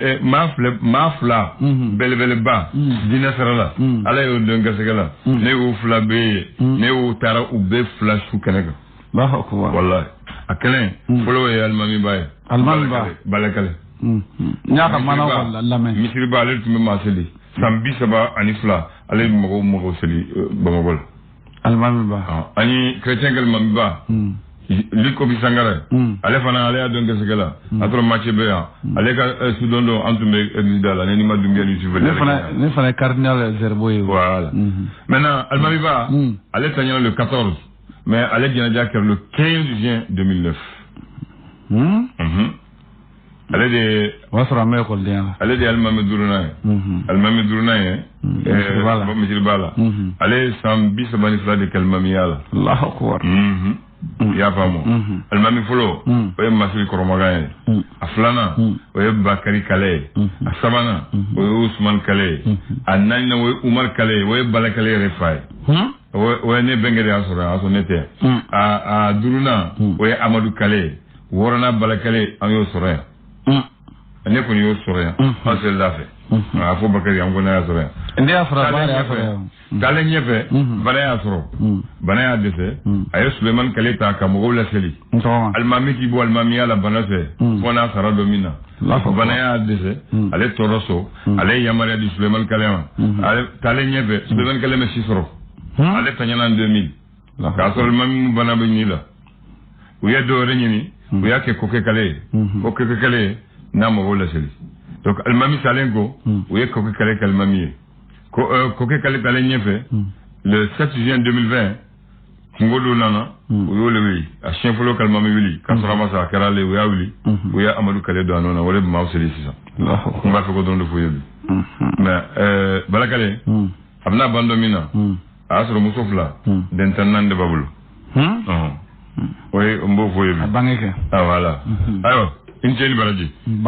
eh, maa fila maa fila Mhm. belebeleba Mhm. diinɛ sira la Mhm. ala y'o don garisɛgɛ la Mhm. ne y'u fila bɛɛ ye Mhm. ne y'u taara u bɛɛ fila su kɛnɛ kan Allahu akbar. walayi a kelen Mhm. fɔlɔ ye alimamiba ye Alimamiba. Balakale- balakale Mhm. N y'a ka mana Misiriba- wala lamɛn. misiriba ale tun bɛ maa seli san bi saba ani fila ale bɛ mɔgɔw mɔgɔw seli eh, bamakɔ la alimami ba ah, ani chrétien ka alimami ba hmm. luc auguste sangaré hmm. ale fana ala y'a don garisɛgɛ la hmm. a sɔrɔ mace bɛ yan ale ka eh, sudon don an tun bɛ église da la ne ni ma dunbiya ni sufɛ ne fana ne fana ye cardinal zerbo ye voilà maintenant alimami ba ale tanyana le 14 mais ale janaja kɛra le 15 juin 2009 hmm? ale de ye o y'a sɔrɔ an bɛ ekɔlidenya la ale de ye alimami duurunan ye mhm. alimami duurunan ye mhm. eh, misiriba la mhm. ale ye san bi saba ni fila de kɛ alimamiya la alahu akubar i y'a faamu alimami fɔlɔ o ye masiri kɔrɔmagan ye a filanan o ye bakari kale ye a sabanan o ye usumani kale ye a naaninan o ye umari kale ye o ye balakale yɛrɛ fa ye o ye ne bɛnkɛ de y'a sɔrɔ a y'a sɔrɔ ne tɛ hmm. a duurunan hmm. o ye amadu kale ye wɔɔrɔnan bala kale an y'o sɔrɔ yan hmm. ne kɔni y'o sɔrɔ yan an selil'a fɛ a fɔ bakari an ko ne y'a sɔrɔ yan ne y'a sɔrɔ bala y'a sɔrɔ yan taalen ɲɛfɛ bana y'a sɔrɔ bana y'a dɛsɛ a ye sulemani kale ta ka mɔgɔw laseli alimami tɛ bɔ alimamiya la bana fɛ hmm. fo n'a sara don min na bana y'a dɛsɛ hmm. ale tora so hmm. ale ye yamaruya di sulemani kale ma ale taalen ɲɛfɛ sulemani kale ma si sɔrɔ ale tanyana deux mille k'a sɔrɔ alimami bana bɛ ɲi la u ye dɔ wɛrɛ ɲini u y'a kɛ koke kale ye ko koke kale ye na mɔgɔw laseli donc alimami salen ko u ye koke kale k'alimami ye koke kale taalen ɲɛfɛ le 7 juin 2020 kunko dɔ nana hmm. u y'ale wuli a siɲɛ fɔlɔ k'alimami wuli k'a sɔrɔ a ma sa a kɛra ale u y'a wuli hmm. u ye amadu kale don a nɔ na o de bɛ maaw seli sisan n b'a fɛ k'o dɔrɔn de f'aw ye bi hmm. mais eh, balakale a bɛna ban don min na a y'a sɔrɔ muso fila den tan naani de b'a bolo o ye n b'o f'aw ye bi a bange kɛ awɔ ah, ala ayiwa i ni ce i ni baraji